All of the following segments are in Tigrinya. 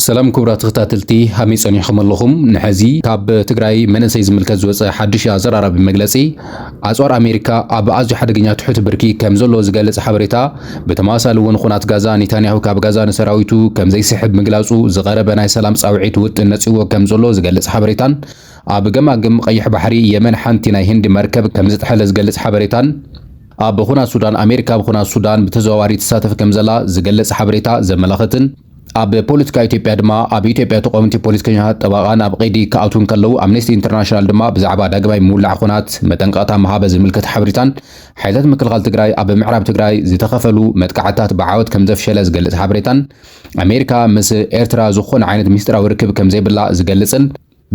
ሰላም ክቡራት ተኸታተልቲ ሃመይ ጸኒሕኹም ኣለኹም? ንሐዚ ካብ ትግራይ መንእሰይ ዝምልከት ዝወጸ ሓድሽ ኣዘራራቢ መግለጺ ኣጽዋር ኣሜሪካ ኣብ ኣዝዩ ሓደገኛ ትሑት ብርኪ ከምዘሎ ዝገልጽ ሓበሬታ ብተመሳሳሊ እውን ኹናት ጋዛ ኔታንያሁ ካብ ጋዛ ንሰራዊቱ ከምዘይስሕብ ምግላጹ ዝቐረበ ናይ ሰላም ጻውዒት ውጥን ነጺግዎ ከምዘሎ ዝገልጽ ሓበሬታን ኣብ ገማግም ቐይሕ ባሕሪ የመን ሓንቲ ናይ ህንዲ መርከብ ከምዝጥሐለ ዝገልጽ ሓበሬታን ኣብ ኹናት ሱዳን ኣሜሪካ ኣብ ኹናት ሱዳን ብተዘዋዋሪ ትሳተፍ ከምዘላ ዝገልጽ ሓበሬታ ዘመላኽትን ኣብ ፖለቲካ ኢትዮጵያ ድማ ኣብ ኢትዮጵያ ተቋምቲ ፖለቲከኛታት ጠበቓ ናብ ቐይዲ ክኣትዉ እንከለዉ ኣምነስቲ ኢንተርናሽናል ድማ ብዛዕባ ዳግማይ ምውላዕ ኹናት መጠንቀቕታ ምሃበ ዝምልከት ሓበሬታን ሓይልታት ምክልኻል ትግራይ ኣብ ምዕራብ ትግራይ ዝተኸፈሉ መጥቃዕትታት ብዓወት ከምዘፍሸለ ዝገልጽ ሓበሬታን ኣሜሪካ ምስ ኤርትራ ዝኾነ ዓይነት ምስጢራዊ ርክብ ከምዘይብላ ዝገልጽን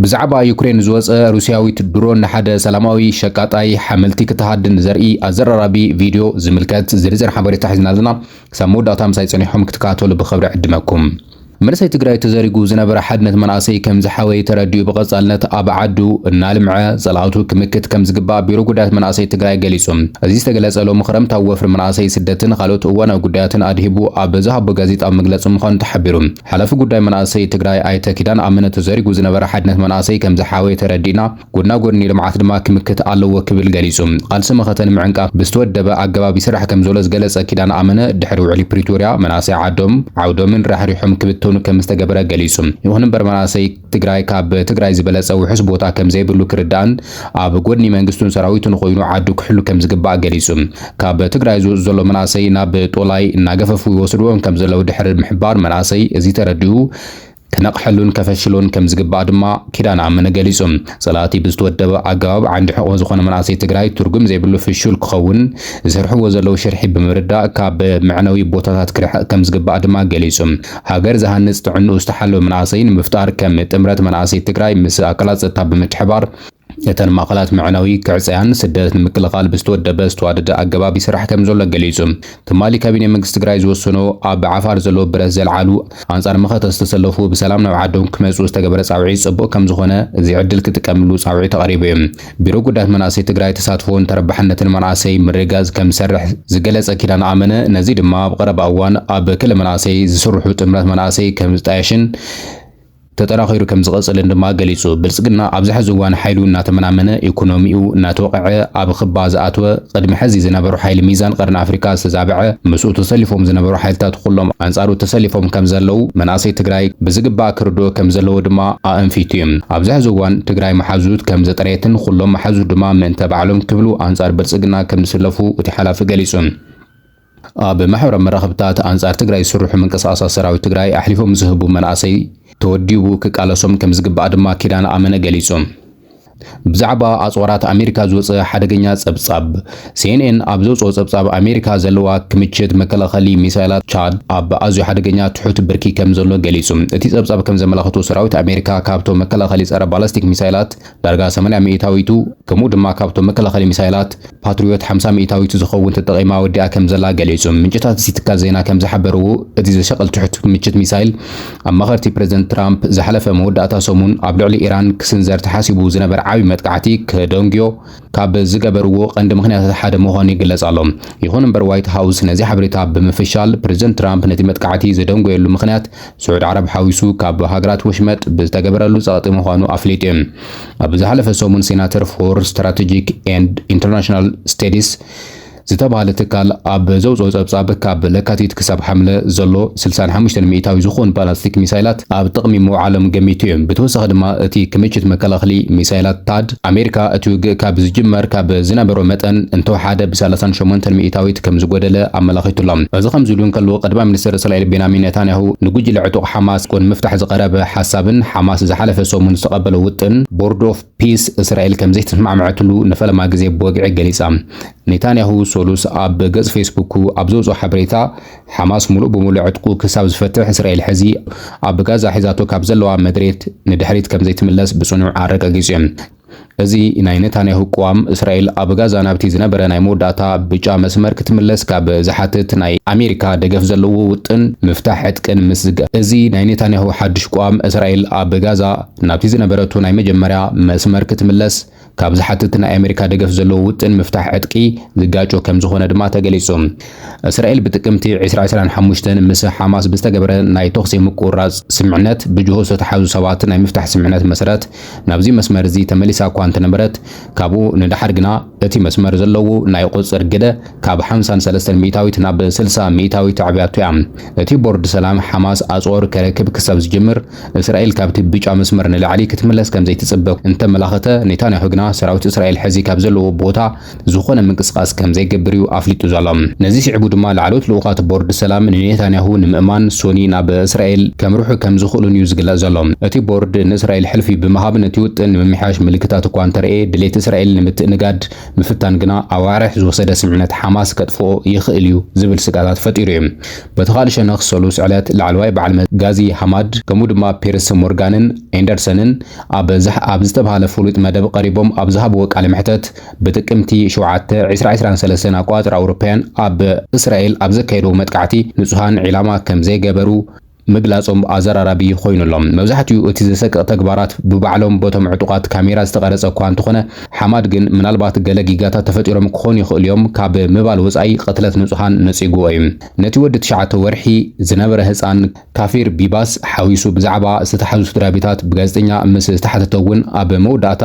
ብዛዕባ ዩክሬን ዝወጸ ሩስያዊት ድሮን ንሓደ ሰላማዊ ሸቃጣይ ሓመልቲ ክትሃድን ዘርኢ ኣዘራራቢ ቪድዮ ዝምልከት ዝርዝር ሓበሬታ ሒዝና ኣለና። ክሳብ መወዳእታ ምሳይ ጸኒሕኩም ክትከታተሉ ብኽብሪ እዕድመኩም። መንእሰይ ትግራይ ተዘሪጉ ዝነበረ ሓድነት መናእሰይ ከም ዝሓወየ ተረዲኡ ብቐፃልነት ኣብ ዓዱ እናልምዐ ፀላእቱ ክምክት ከም ዝግባእ ቢሮ ጉዳያት መናእሰይ ትግራይ ገሊፁ። እዚ ዝተገለፀ ሎሚ ክረምት ኣብ ወፍሪ መናእሰይ ስደትን ኻልኦት እዋናዊ ጉዳያትን ኣድሂቡ ኣብ ዝሃቦ ጋዜጣዊ መግለፂ ምዃኑ ተሓቢሩ። ሓላፊ ጉዳይ መናእሰይ ትግራይ ኣይተ ኪዳን ኣመነ ተዘሪጉ ዝነበረ ሓድነት መናእሰይ ከምዝሓወየ ተረዲእና ጎድና ጎድኒ ልምዓት ድማ ክምክት ኣለዎ ክብል ገሊፁ። ቓልሲ መኸተ ንምዕንቃፍ ብዝተወደበ ኣገባብ ይስራሕ ከምዘሎ ዝገለፀ ኪዳን ኣመነ ድሕሪ ውዕሊ ፕሪቶርያ መናእሰይ ዓዶም ዓውዶምን ራሕሪሖም ክብተኑ ከምዝተገበረ ገሊፁ። ይኹን እምበር መናእሰይ ትግራይ ካብ ትግራይ ዝበለጸ ውሑስ ቦታ ከምዘይብሉ ክርዳእን ኣብ ጎድኒ መንግስቱን ሰራዊቱን ኾይኑ ዓዱ ክሕሉ ከምዝግባእ ገሊጹ። ካብ ትግራይ ዝወጹ ዘሎ መናእሰይ ናብ ጦላይ እናገፈፉ ይወስድዎም ከምዘለው ድሕሪ ምሕባር መናእሰይ እዚ ተረዲኡ ክነቕሐሉን ከፈሽሎን ከምዝግባእ ድማ ኪዳነ ኣመነ ገሊጹ። ጸላእቲ ብዝተወደበ ኣገባብ ዓንዲ ሕቖ ዝኾነ መናእሰይ ትግራይ ትርጉም ዘይብሉ ፍሹል ክኸውን ዝሰርሕዎ ዘለው ሽርሒ ብምርዳእ ካብ መዕነዊ ቦታታት ክርሕቕ ከምዝግባእ ድማ ገሊጹ። ሃገር ዝሃንጽ ጥዕንኡ ዝተሓለወ መናእሰይ ንምፍጣር ከም ጥምረት መናእሰይ ትግራይ ምስ ኣካላት ፀጥታ ብምትሕብባር እተን ማእኸላት መዕነዊ ክዕፀያን ስደት ንምክልኻል ብዝተወደበ ዝተዋደደ ኣገባብ ይስራሕ ከምዘሎ ገሊፁ። ትማሊ ካቢኔ መንግስቲ ትግራይ ዝወሰኖ ኣብ ዓፋር ዘለዉ ብረት ዘልዓሉ ኣንፃር መኸተ ዝተሰለፉ ብሰላም ናብ ዓዶም ክመፅኡ ዝተገበረ ፃውዒት ፅቡቕ ከምዝኾነ እዚ ዕድል ክጥቀምሉ ፃውዒት ኣቕሪቡ እዩ። ቢሮ ጉዳያት መናእሰይ ትግራይ ተሳትፎን ተረባሕነትን መናእሰይ ምርግጋፅ ከምዝሰርሕ ዝገለፀ ኪዳነ ኣመነ ነዚ ድማ ኣብ ቐረባ እዋን ኣብ ክሊ መናእሰይ ዝስርሑ ጥምረት መናእሰይ ከምዝጣየሽን ተጠናኺሩ ከምዝቐፅልን ድማ ገሊፁ። ብልፅግና ኣብዚ ሕዚ እዋን ሓይሉ እናተመናመነ፣ ኢኮኖሚኡ እናተወቐዐ፣ ኣብ ኽባ ዝኣተወ፣ ቕድሚ ሕዚ ዝነበሩ ሓይሊ ሚዛን ቐርኒ ኣፍሪካ ዝተዛበዐ፣ ምስኡ ተሰሊፎም ዝነበሩ ሓይልታት ኹሎም ኣንፃሩ ተሰሊፎም ከምዘለው መናእሰይ ትግራይ ብዝግባእ ክርድኦ ከምዘለዎ ድማ ኣእንፊቱ ዩ። ኣብዚ ሐዚ እዋን ትግራይ መሓዙት ከም ዘጥረየትን ኹሎም መሓዙት ድማ ምእንተ ባዕሎም ክብሉ ኣንፃር ብልፅግና ከም ዝስለፉ እቲ ሓላፊ ገሊፁ። ኣብ ማሕበራዊ መራኸብታት ኣንፃር ትግራይ ዝስርሑ ምንቅስቓሳት ሰራዊት ትግራይ ኣሕሊፎም ምስ ዝህቡ መናእሰይ ተወዲቡ ክቃለሶም ከም ዝግባእ ድማ ኪዳነ ኣመነ ገሊፁ። ብዛዕባ ኣፅዋራት ኣሜሪካ ዝወፀ ሓደገኛ ፀብፃብ። ሲኤንኤን ኣብ ዘውጽኦ ጸብጻብ፣ ኣሜሪካ ዘለዋ ክምችት መከላኸሊ ሚሳይላት ቻድ ኣብ ኣዝዩ ሓደገኛ ትሑት ብርኪ ከም ዘሎ ገሊጹ። እቲ ጸብጻብ ከም ዘመላኽቶ፣ ሰራዊት ኣሜሪካ ካብቶም መከላኸሊ ጸረ ባላስቲክ ሚሳይላት ዳርጋ ሰማንያ ሚኢታዊቱ፣ ከምኡ ድማ ካብቶም መከላኸሊ ሚሳይላት ፓትሪዮት ሓምሳ ሚኢታዊቱ ዝኸውን ተጠቒማ ወዲኣ ከም ዘላ ገሊጹ። ምንጭታት እቲ ትካል ዜና ከም ዝሓበርዎ፣ እቲ ዘሻቕል ትሑት ክምችት ሚሳይል፣ ኣማኸርቲ ፕረዚደንት ትራምፕ ዝሓለፈ መወዳእታ ሰሙን ኣብ ልዕሊ ኢራን ክስንዘር ተሓሲቡ ዝነበረ ዓቢ መጥቃዕቲ ከደንጉዮ ካብ ዝገበርዎ ቀንዲ ምኽንያታት ሓደ ምዃኑ ይግለጽ ኣሎ። ይኹን እምበር ዋይት ሃውስ ነዚ ሓበሬታ ብምፍሻል፣ ፕረዚደንት ትራምፕ ነቲ መጥቃዕቲ ዝደንጎየሉ ምኽንያት ስዑድ ዓረብ ሓዊሱ ካብ ሃገራት ወሽመጥ ብዝተገበረሉ ጸቕጢ ምዃኑ ኣፍሊጡ። ኣብ ዝሓለፈ ሰሙን ሴናተር ፎር ስትራተጂክ ኤንድ ኢንተርናሽናል ስተዲስ ዝተባህለ ትካል ኣብ ዘውጽኦ ጸብጻብ፣ ካብ ለካቲት ክሳብ ሓምለ ዘሎ ስልሳን ሓሙሽተን ሚኢታዊ ዝኾኑ ባላስቲክ ሚሳይላት ኣብ ጥቕሚ ምውዓሎም ገሚቱ እዩ። ብተወሳኺ ድማ እቲ ክምችት መከላኸሊ ሚሳይላት ታድ፣ ኣሜሪካ እቲ ውግእ ካብ ዝጅመር ካብ ዝነበሮ መጠን እንተወሓደ ብሰላሳን ሸሞንተን ሚኢታዊት ከምዝጎደለ ኣመላኺቱ ኣሎ። እዚ ከምዚሉ እንከሎ፣ ቀዳማይ ሚኒስተር እስራኤል ቤንያሚን ኔታንያሁ ንጉጅለ ዕጡቕ ሓማስ ን ምፍታሕ ዝቐረበ ሓሳብን ሓማስ ዝሓለፈ ሰሙን ዝተቐበሎ ውጥን ቦርድ ኦፍ ፒስ እስራኤል ከምዘይተስማዕመዐትሉ ንፈለማ ግዜ ብወግዒ ገሊጻ። ኔታንያሁ ሰሉስ ኣብ ገጽ ፌስቡኩ ኣብ ዘውጽኦ ሓበሬታ፣ ሓማስ ምሉእ ብምሉእ ዕጥቁ ክሳብ ዝፈትሕ እስራኤል ሕዚ ኣብ ጋዛ ሒዛቶ ካብ ዘለዋ መድሬት ንድሕሪት ከምዘይትምለስ ብጽኑዕ ኣረጋጊጹ'ዩ። እዚ ናይ ኔታንያሁ ቅዋም፣ እስራኤል ኣብ ጋዛ ናብቲ ዝነበረ ናይ መወዳእታ ብጫ መስመር ክትምለስ ካብ ዝሓትት ናይ ኣሜሪካ ደገፍ ዘለዎ ውጥን ምፍታሕ ዕጥቅን ምስ እዚ ናይ ኔታንያሁ ሓድሽ ቅዋም፣ እስራኤል ኣብ ጋዛ፣ ናብቲ ዝነበረቶ ናይ መጀመርያ መስመር ክትምለስ ካብ ዝሓትት ናይ ኣሜሪካ ደገፍ ዘለዎ ውጥን ምፍታሕ ዕጥቂ ዝጋጮ ከምዝኾነ ድማ ተገሊፁ። እስራኤል ብጥቅምቲ ዕስራ ዕስራን ሓሙሽተን ምስ ሓማስ ብዝተገበረ ናይ ተኹሲ ምቁርራፅ ስምምዕነት ብጅሆ ዝተትሓዙ ሰባት ናይ ምፍታሕ ስምምዕነት መሰረት ናብዚ መስመር እዚ ተመሊሳ እኳ እንተነበረት ካብኡ ንደሓር ግና እቲ መስመር ዘለዎ ናይ ቁፅፅር ግደ ካብ ሓምሳን ሰለስተን ሚእታዊት ናብ ስልሳ ሚእታዊት ኣዕብያቶ እያ። እቲ ቦርድ ሰላም ሓማስ ኣፅዋሩ ከረክብ ክሳብ ዝጅምር እስራኤል ካብቲ ብጫ መስመር ንላዕሊ ክትምለስ ከም ዘይትጽበ እንተመላኸተ፣ ኔታንያሁ ግና ሰራዊት እስራኤል ሕዚ ካብ ዘለዎ ቦታ ዝኾነ ምንቅስቓስ ከም ዘይገብር እዩ ኣፍሊጡ ዘሎ። ነዚ ስዒቡ ድማ ላዕለዎት ልኡኻት ቦርድ ሰላም ንኔታንያሁ ንምእማን ሶኒ ናብ እስራኤል ከምርሑ ከም ዝኽእሉን እዩ ዝግለጽ ዘሎ። እቲ ቦርድ ንእስራኤል ሕልፊ ብምሃብ ነቲ ውጥን ንምምሕያሽ ምልክታት እኳ እንተርእየ፣ ድሌት እስራኤል ንምትእንጋድ ምፍታን ግና ኣዋርሕ ዝወሰደ ስምምዕነት ሓማስ ከጥፍኦ ይኽእል እዩ ዝብል ስግኣታት ፈጢሩ እዩ። በቲ ካልእ ሸነኽ ሰሉስ ዕለት ላዕለዋይ በዓል መዚ ጋዚ ሃማድ ከምኡ ድማ ፒርስ ሞርጋንን ኤንደርሰንን ኣብ ዘሕ ኣብ ዝተብሃለ ፍሉጥ መደብ ቐሪቦም ኣብ ዝሃብዎ ቃለ መሕተት ብጥቅምቲ ሸውዓተ ዕስራ ዕስራን ሰለስተን ኣቆፃፅራ ኣውሮፓውያን ኣብ እስራኤል ኣብ ዘካየድዎ መጥቃዕቲ ንፁሃን ዒላማ ከም ዘይገበሩ ምግላፆም ኣዘራራቢ ኾይኑ ኣሎ። መብዛሕቲኡ እቲ ዘሰቅቕ ተግባራት ብባዕሎም በቶም ዕጡቓት ካሜራ ዝተቐረፀ እኳ እንተኾነ፣ ሓማድ ግን ምናልባት ገለ ጊጋታት ተፈጢሮም ክኾኑ ይኽእሉ'ዮም ካብ ምባል ወጻኢ ቕትለት ንጹሃን ነጺጉዎ'ዩ። ነቲ ወዲ ትሽዓተ ወርሒ ዝነበረ ህጻን ካፊር ቢባስ ሓዊሱ ብዛዕባ ዝተታሕዙ ስድራቤታት ብጋዜጠኛ ምስ ዝተሓተተ'ውን ኣብ መወዳእታ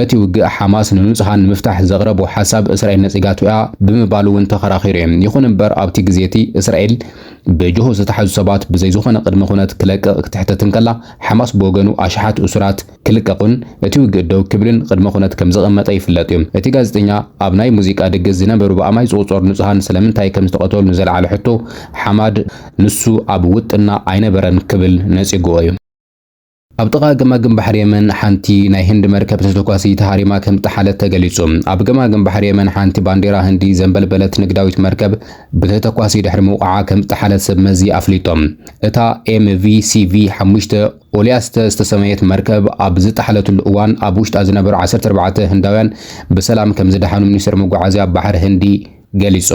እቲ ውግእ ሓማስ ንንጹሃን ንምፍታሕ ዘቕረቦ ሓሳብ እስራኤል ነጺጋቶ'ያ ብምባል'ውን ተኸራኺሩ'ዩ። ይኹን'ምበር ኣብቲ ግዜ'ቲ እስራኤል ብጅሆ ዝተታሕዙ ሰባት ብዘይዝኾነ ቕድመ-ኹነት ክለቅቕ ክትሕተት እንከላ ሓማስ ብወገኑ ኣሽሓት እሱራት ክልቀቑን እቲ ውግእ ደው ክብልን ቅድመ ኩነት ከም ዝቐመጠ ይፍለጥ እዩ። እቲ ጋዜጠኛ ኣብ ናይ ሙዚቃ ድግስ ዝነበሩ ብኣማይ ዝቑጸሩ ንጹሃን ስለምንታይ ከም ዝተቐተሉ ንዘልዓሎ ሕቶ ሓማድ ንሱ ኣብ ውጥንና ኣይነበረን ክብል ነጺጉዎ እዩ። ኣብ ጥቓ ገማግም ባሕሪ የመን ሓንቲ ናይ ህንዲ መርከብ ተተኳሲ ተሃሪማ ከም ዝጠሓለት ተገሊጹ። ኣብ ገማግም ባሕሪ የመን ሓንቲ ባንዴራ ህንዲ ዘንበልበለት ንግዳዊት መርከብ ብተተኳሲ ድሕሪ ምውቕዓ ከም ዝጠሓለት ሰብ መዚ ኣፍሊጦም። እታ ኤምቪ ሲቪ ሓሙሽተ፣ ኦሊያስተ ዝተሰመየት መርከብ ኣብ ዝጠሓለትሉ እዋን ኣብ ውሽጣ ዝነበሩ ዓሰርተ ኣርባዕተ ህንዳውያን ብሰላም ከምዝደሓኑ ሚኒስተር መጓዓዝያ ባሕሪ ህንዲ ገሊጹ።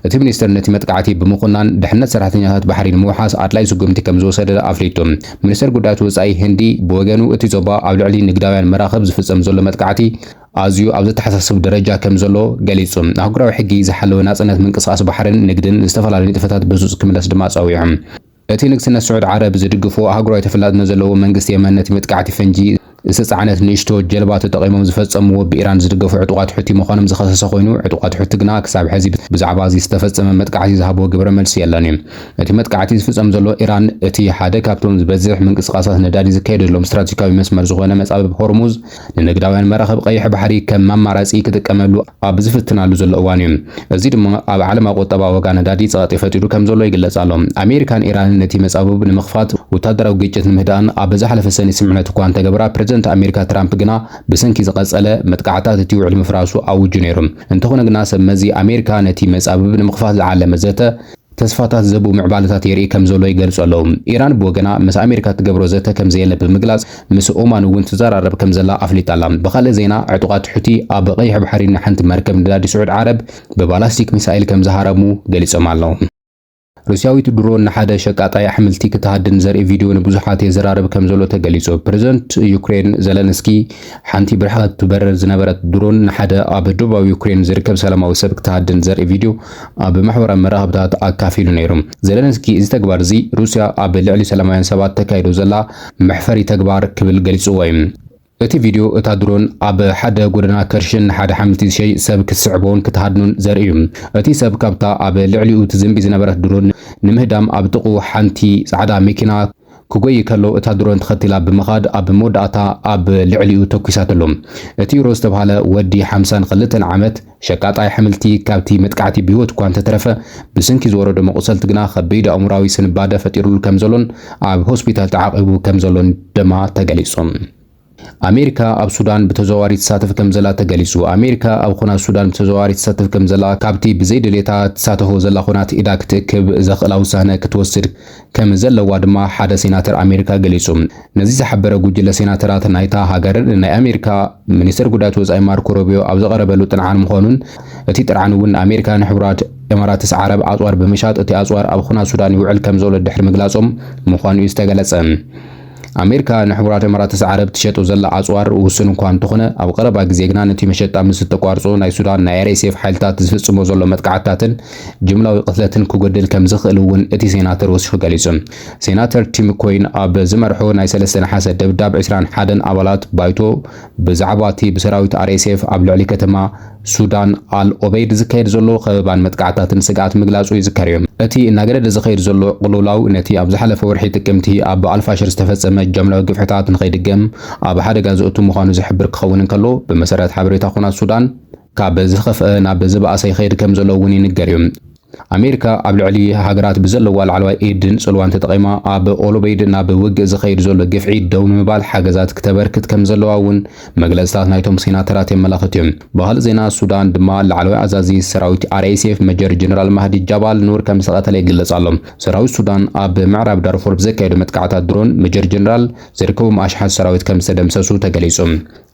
እቲ ሚኒስተር ነቲ መጥቃዕቲ ብምኹናን ድሕነት ሰራሕተኛታት ባሕሪ ንምውሓስ ኣድላዪ ስጉምቲ ከምዝወሰደ ኣፍሊጡ። ሚኒስተር ጉዳያት ወጻኢ ህንዲ ብወገኑ እቲ ዞባ ኣብ ልዕሊ ንግዳውያን መራኽብ ዝፍጸም ዘሎ መጥቃዕቲ ኣዝዩ ኣብ ዘተሓሳስብ ደረጃ ከምዘሎ ገሊጹ። ኣህጉራዊ ሕጊ ዝሓለወ ናጽነት ምንቅስቓስ ባሕርን ንግድን ዝተፈላለዩ ንጥፈታት ብህጹጽ ክምለስ ድማ ጸዊዑ። እቲ ንግስነት ስዑድ ዓረብ ዝድግፎ ኣህጉራዊ ተፈላጥነት ዘለዎ መንግስቲ የመን ነቲ መጥቃዕቲ ፈንጂ ዝተጻዕነት ንእሽቶ ጀልባ ተጠቒሞም ዝፈጸምዎ ብኢራን ዝድገፉ ዕጡቓት ሑቲ ምዃኖም ዝኸሰሰ ኮይኑ፣ ዕጡቓት ሑቲ ግና ክሳብ ሕዚ ብዛዕባ'ዚ ዝተፈጸመ መጥቃዕቲ ዝሃብዎ ግብረ መልሲ የለን። እቲ መጥቃዕቲ ዝፍጸም ዘሎ ኢራን እቲ ሓደ ካብቶም ዝበዝሕ ምንቅስቓሳት ነዳዲ ዝካየደሎም ስትራቴጂካዊ መስመር ዝኾነ መጻብብ ሆርሙዝ ንንግዳውያን መራኽብ ቀይሕ ባሕሪ ከም ማማራጺ ክጥቀመሉ ኣብ ዝፍትናሉ ዘሎ እዋን እዩ። እዚ ድማ ኣብ ዓለማ ቁጠባ ዋጋ ነዳዲ ጸቕጢ ፈጢሩ ከም ዘሎ ይግለጽ ኣሎ። ኣሜሪካን ኢራንን ነቲ መጻብብ ንምኽፋት ወታደራዊ ግጭት ንምህዳእን ኣብ ዝሓለፈ ሰኒ ስምምዕነት እኳ እንተገበራ ፕረዚደንት ኣሜሪካ ትራምፕ ግና ብሰንኪ ዝቐጸለ መጥቃዕትታት እቲ ውዕሊ ምፍራሱ ኣውጁ ነይሩ። እንተኾነ ግና ሰብ መዚ ኣሜሪካ ነቲ መጻብብ ንምኽፋት ዝዓለመ ዘተ ተስፋታት ዘብኡ ምዕባለታት የርኢ ከም ዘሎ ይገልጹ ኣለዉ። ኢራን ብወገና ምስ ኣሜሪካ እትገብሮ ዘተ ከም ዘየለ ብምግላጽ፣ ምስ ኦማን እውን ትዘራረብ ከም ዘላ ኣፍሊጣ ኣላ። ብኻልእ ዜና ዕጡቓት ሑቲ ኣብ ቀይሕ ባሕሪ ንሓንቲ መርከብ ነዳዲ ስዑድ ዓረብ ብባላስቲክ ሚሳይል ከም ዝሃረሙ ገሊጾም ኣለዉ። ሩስያዊት ድሮን ንሓደ ሸቃጣይ ኣሕምልቲ ክትሃድን ዘርኢ ቪድዮ ንብዙሓት የዘራርብ ከም ዘሎ ተገሊጹ። ፕረዚደንት ዩክሬን ዘለንስኪ ሓንቲ ብርሕቐት ትበርር ዝነበረት ድሮን ንሓደ ኣብ ደቡባዊ ዩክሬን ዝርከብ ሰላማዊ ሰብ ክትሃድን ዘርኢ ቪድዮ ኣብ ማሕበራዊ መራኸብታት ኣካፊሉ ነይሩ። ዘለንስኪ እዚ ተግባር እዚ ሩስያ ኣብ ልዕሊ ሰላማውያን ሰባት ተካይዶ ዘላ መሕፈሪ ተግባር ክብል ገሊጽዎ እዩ። እቲ ቪድዮ እታ ድሮን ኣብ ሓደ ጎደና ከርሽን ንሓደ ሓምልቲ ዝሸይጥ ሰብ ክትስዕቦን ክትሃድኖን ዘርኢ እዩ። እቲ ሰብ ካብታ ኣብ ልዕሊኡ ትዝንቢ ዝነበረት ድሮን ንምህዳም ኣብ ጥቕኡ ሓንቲ ጻዕዳ መኪና ክጎዪ ከሎ እታ ድሮን ተኸቲላ ብምኻድ ኣብ መወዳእታ ኣብ ልዕሊኡ ተኲሳትሉ። እቲ ሮዝ ዝተብሃለ ወዲ ሓምሳን ክልተን ዓመት፣ ሸቃጣይ ኣሕምልቲ ካብቲ መጥቃዕቲ ብህይወት እኳ እንተተረፈ፣ ብስንኪ ዝወረዶ መቑሰልቲ ግና ከቢድ ኣእምሮኣዊ ስንባደ ፈጢሩሉ ከምዘሎን ኣብ ሆስፒታል ተዓቚቡ ከምዘሎን ደማ ተገሊጹ። ኣሜሪካ ኣብ ሱዳን ብተዘዋዋሪ ትሳተፍ ከምዘላ ተገሊጹ። ኣሜሪካ ኣብ ኹናት ሱዳን ብተዘዋዋሪ ትሳተፍ ከምዘላ ካብቲ ብዘይድሌታ ትሳተፎ ዘላ ኹናት ኢዳ ክትእክብ ዘኽእላ ውሳነ ክትወስድ ከም ዘለዋ ድማ ሓደ ሴናተር ኣሜሪካ ገሊጹ። ነዚ ዝሓበረ ጉጅለ ሴናተራት ናይታ ሃገር፣ ንናይ ኣሜሪካ ሚኒስተር ጉዳያት ወጻኢ ማርኮ ሩቢዮ ኣብ ዘቐረበሉ ጥርዓን ምዃኑን እቲ ጥርዓን እውን ኣሜሪካ ንሕቡራት ኤማራትስ ዓረብ ኣጽዋር ብምሻጥ እቲ ኣጽዋር ኣብ ኹናት ሱዳን ይውዕል ከምዘሎ ድሕሪ ምግላጾም ምዃኑ'ዩ ዝተገለጸ። ኣሜሪካ ንሕቡራት ኤማራትስ ዓረብ ትሸጦ ዘላ ኣጽዋር ውሱን እኳ እንተኾነ፣ ኣብ ቐረባ ግዜ ግና ነቲ መሸጣ ምስ እተቋርጾ ናይ ሱዳን ናይ RSF ሓይልታት ዝፍጽሞ ዘሎ መጥቃዕትታትን ጅምላዊ ቅትለትን ክጎድል ከም ዝኽእል እውን እቲ ሴናተር ወሲኹ ገሊጹ። ሴናተር ቲም ኮይን ኣብ ዝመርሖ ናይ ሰለስተ ነሓሰ ደብዳብ ዕስራን ሓደን ኣባላት ባይቶ ብዛዕባ እቲ ብሰራዊት RSF ኣብ ልዕሊ ከተማ ሱዳን፣ ኣል ኦበይድ ዝካየድ ዘሎ ከበባን መጥቃዕትታትን ስግኣት ምግላጹ ይዝከር እዩ። እቲ እናገደደ ዝኸይድ ዘሎ ቅልውላው ነቲ ኣብ ዝሓለፈ ወርሒ ጥቅምቲ ኣብ ኣልፋሽር ዝተፈጸመ ጃምላዊ ግፍዕታት ንኸይድገም ኣብ ሓደጋ ዘእቱ ምዃኑ ዝሕብር ክኸውን እንከሎ፣ ብመሰረት ሓበሬታ ኵናት ሱዳን፣ ካብ ዝኸፍኣ ናብ ዝበኣሰ ይኸይድ ከምዘሎ እውን ይንገር እዩ። ኣሜሪካ ኣብ ልዕሊ ሃገራት ብዘለዋ ላዕለዋይ ኢድን ጽልዋን ተጠቒማ ኣብ ኦሎበይድ ናብ ውግእ ዝኸይድ ዘሎ ግፍዒ ደው ንምባል ሓገዛት ክተበርክት ከም ዘለዋ እውን መግለጽታት ናይቶም ሴናተራት የመላኽት እዩ። ብኻልእ ዜና ሱዳን ድማ ላዕለዋይ ኣዛዚ ሰራዊት RSF መጀር ጀነራል ማህዲ ጃባል ኑር ከም ዝተቐተለ ይግለጽ ኣሎ። ሰራዊት ሱዳን ኣብ ምዕራብ ዳርፉር ብዘካየዶ መጥቃዕታት ድሮን መጀር ጀነራል ዝርከቦም ኣሽሓት ሰራዊት ከም ዝተደምሰሱ ተገሊጹ።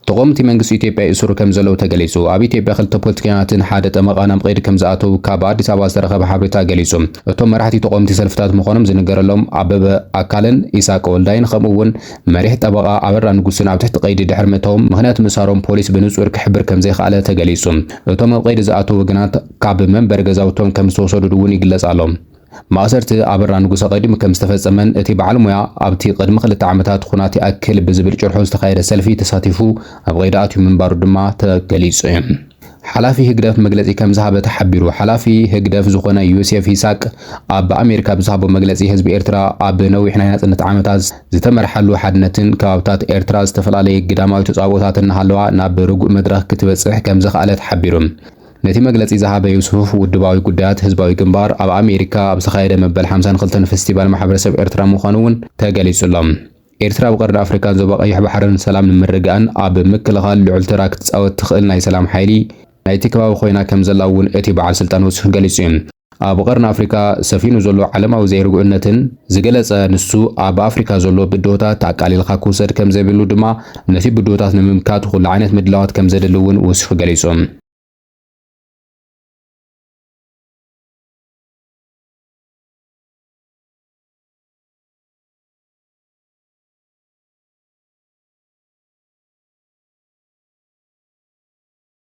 ተቖምቲ መንግስቲ ኢትዮጵያ ይእስሩ ከምዘለዉ ተገሊጹ። ኣብ ኢትዮጵያ ክልተ ፖለቲከኛታትን ሓደ ጠመቓን ኣብ ቐይዲ ከምዝኣተዉ ካብ ኣዲስ ኣበባ ዝተረኸበ ሓበሬታ ገሊጹ። እቶም መራሕቲ ተቖምቲ ሰልፍታት ምዃኖም ዝንገረሎም ኣበበ ኣካለን ኢሳቅ ወልዳይን ከምኡ'ውን መሪሕ ጠበቓ ኣበራ ንጉስን ኣብ ትሕቲ ቐይዲ ድሕሪ ምእታዎም ምኽንያት ምእሳሮም ፖሊስ ብንጹር ክሕብር ከምዘይኸኣለ ተገሊጹ። እቶም ኣብ ቐይዲ ዝኣተዉ ወገናት ካብ መንበሪ ገዛውቶም ከምዝተወሰዱ'ውን ይግለጽ ኣሎ። ማእሰርቲ ኣበራ ንጉሰ ቀዲሙ ከም ዝተፈጸመን እቲ በዓል ሞያ ኣብቲ ቅድሚ ክልተ ዓመታት ኹናት ይኣክል ብዝብል ጭርሖ ዝተኻየደ ሰልፊ ተሳቲፉ ኣብ ቐይዲ ኣትዩ ምንባሩ ድማ ተገሊጹ እዩ። ሓላፊ ህግደፍ መግለጺ ከም ዝሃበ ተሓቢሩ። ሓላፊ ህግደፍ ዝኾነ ዮሴፍ ይሳቅ ኣብ ኣሜሪካ ብዝሃቦ መግለጺ ህዝቢ ኤርትራ ኣብ ነዊሕ ናይ ናጽነት ዓመታት ዝተመርሓሉ ሓድነትን ከባብታት ኤርትራ ዝተፈላለየ ግዳማዊ ተጻብኦታት እናሃለዋ ናብ ርጉእ መድረኽ ክትበጽሕ ከም ዘኽኣለት ሓቢሩ። ነቲ መግለጺ ዝሃበ ዩሱፍ፣ ውድባዊ ጉዳያት ህዝባዊ ግንባር ኣብ ኣሜሪካ ኣብ ዝተኻየደ መበል ሓምሳን ክልተን ፈስቲቫል ማሕበረሰብ ኤርትራ ምዃኑ'ውን ተገሊጹ ኣሎ። ኤርትራ ኣብ ቀርኒ ኣፍሪቃን ዞባ ቀይሕ ባሕርን ሰላም ንምርግጋእን ኣብ ምክልኻል ልዑል ተራ ክትጻወት ትኽእል ናይ ሰላም ሓይሊ ናይቲ ከባቢ ኮይና ከምዘላ'ውን እቲ በዓል ስልጣን ዩሱፍ ገሊጹ'ዩ። ኣብ ቐርኒ ኣፍሪካ ሰፊኑ ዘሎ ዓለማዊ ዘይርጉእነትን ዝገለፀ ንሱ ኣብ ኣፍሪካ ዘሎ ብድሆታት ኣቃሊልኻ ክውሰድ ከምዘይብሉ ድማ ነቲ ብድሆታት ንምምካት ኹሉ ዓይነት ምድላዋት ከምዘድሊ እውን ወሲኹ ገሊፁ።